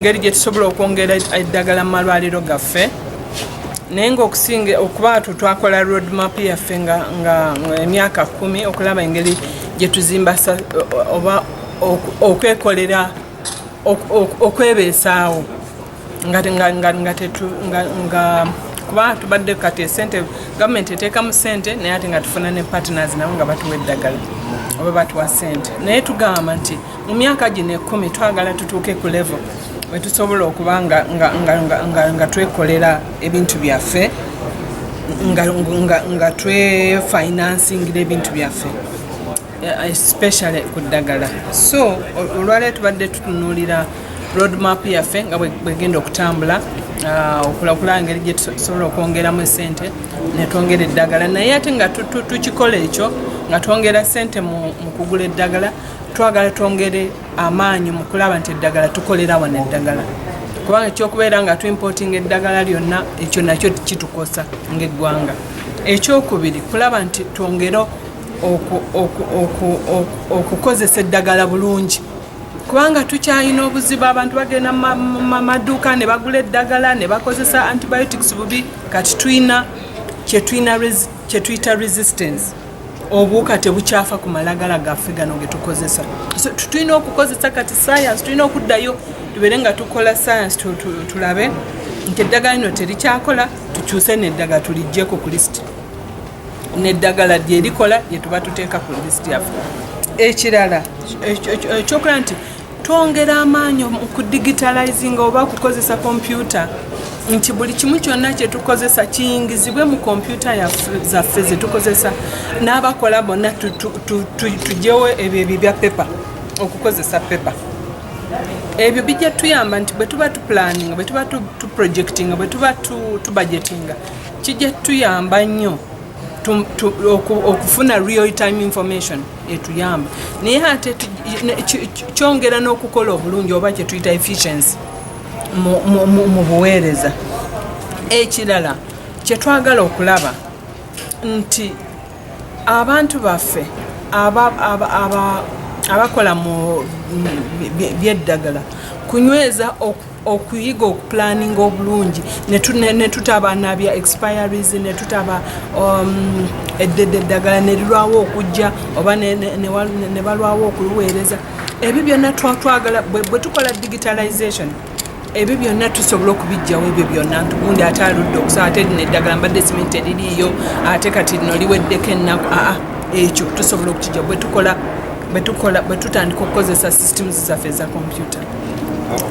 ngeri gye tusobola okwongera eddagala mu malwaliro gaffe naye ngaokusinga okuba tu twakola road map yaffe nga emyaka kumi okulaba engeri gye tuzimba oba okwekolera okwebeesaawo kuba tubadde kati esente gavumenti eteekamu sente naye ate nga tufuna ne partners nabo nga batuwa eddagala oba batuwa sente naye tugamba nti mu myaka gino ekkumi twagala tutuuke ku levo wetusobola okuba nga, nga, nga, nga, nga, nga twekolera ebintu byaffe nga, nga, nga twefinansingira ebintu byaffe eh, especially ku ddagala so olwaleero tubadde tutunuulira roadmap yaffe nga bwegenda okutambula ah, okulakulaa ngeri gyetusobola okwongeramu esente netwongera eddagala naye ate nga tukikola ekyo nga twongera sente mu kugula eddagala twagala twongere amaanyi mu kulaba nti eddagala tukolera wano eddagala kubanga ekyokubeera nga tuimportinga eddagala lyonna ekyo nakyo kitukosa ngaeggwanga ekyokubiri kulaba nti twongere okukozesa eddagala bulungi kubanga tukyalina obuzibu abantu bagenda mamaduuka ne bagula eddagala ne bakozesa antibiotics bubi kati tulina kyetuyita resistance obuwuka tebukyafa ku malagala gaffe gano getukozesa tulina okukozesa kati sayansi tulina okuddayo tubeere nga tukola sayansi tulabe nti eddagala lino terikyakola tukyuse neddaga tulijjeko ku lisiti neddagala lyerikola lyetuba tuteeka ku lisiti yaffe ekirala ekyokulaba nti twongera amaanyi mu kudigitalizinga oba okukozesa kompyuta nti buli kimu kyonna kyetukozesa kiyingizibwe mu kompyuta zaffe zetukozesa n'abakola bonna tugyewo ebyo ebyo bya pepa okukozesa pepa ebyo bijja tuyamba nti bwe tuba tupulaninga bwe tuba tuprojectinga bwe tuba tubajetinga kijja tuyamba nnyo okufuna real time information etuyamba naye ate kyongera n'okukola obulungi oba kyetuyita efficiency mu buweereza ekirala kyetwagala okulaba nti abantu baffe abakola mu byeddagala kunyweza okuyiga okupulaninga obulungi netutaba nabya expiries netutaba um, eddedde eddagala nerirwawo okujja oba nebalwawo okuliweereza ebyo byonna twatwagala bwe tukola digitalization ebyo byonna tusobola okubijjawo ebyo byonna ntugundi ate aludde okusaa ate lino eddagala mbadde simanyi teririiyo ate kati lino liweddeko ennaku aa ekyo tusobola okukijja bwetukola bwetutandika okukozesa systems zaffe eza kompyuta